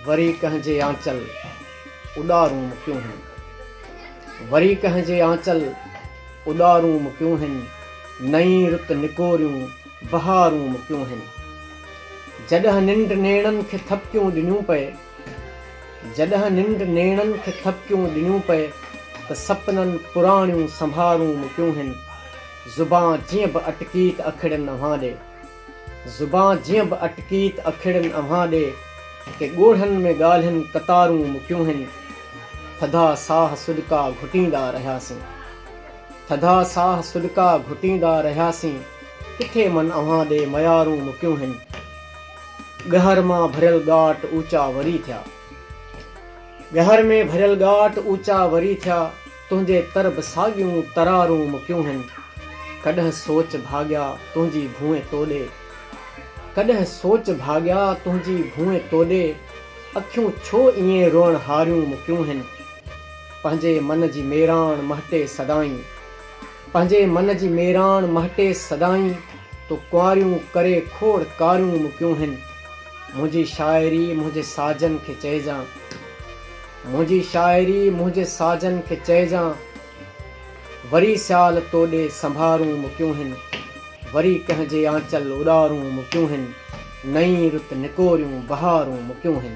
وري ڪنهن جي آنچل اڏارون مڪيون هن وري ڪنهن جي آنچل اڏارون مڪيون هن نئين رت نڪوريون بهارون مڪيون هن جڏهن ننڊ نيڻن کي ٿپڪيون ڏنيون پئي جڏهن ننڊ نيڻن کي ٿپڪيون ڏنيون پئي ته سپنن پراڻيون سنڀارون مڪيون هن زبان جيئن به اٽڪيت اکڙين اوهان ڏي زبان جيئن به اٽڪي ته اکيڙين اوهان ڏي ڪي ڳوڙهن ۾ ڳالهين قطارون مڪيون هن ٿڌا ساهه سڏڪا گهٽيندا رهياسين ٿڌا ساهه سڏڪا گهٽيندا رهياسين ڪٿي من اوهان ڏي ميارون مڪيون هن ڳهر مان ڀريل ڳاٽ اوچا وري ٿيا ڳهر ۾ ڀريل ڳاٽ اوچا وري ٿيا. تنهنجي قرب ساڳيون ترارون مڪيون هن ڪڏهن سوچ ڀاڳيا تنهنجي ڀونء توڏي ڪڏهن سوچ ڀاڳيا تنهنجي ڀونء توڏي اکيون ڇو ائين روئڻ هاريون مڪيون هن پنهنجي من جي ميراڻ مهٽي سدائين پنهنجي من جي ميراڻ مهٽي سدائين تو ڪنواريون ڪري کوڙ ڪاريون مڪيون هن منهنجي شاعري منهنجي ساجن کي چئجان. منهنجي شاعري منهنجي ساجن کي چئجان وري سيال توڏي سنڀارون مڪيون هن وري ڪنهن جي آنچل اڏارون مڪيون هن نئين رت نڪوريون بهارون مڪيون هن.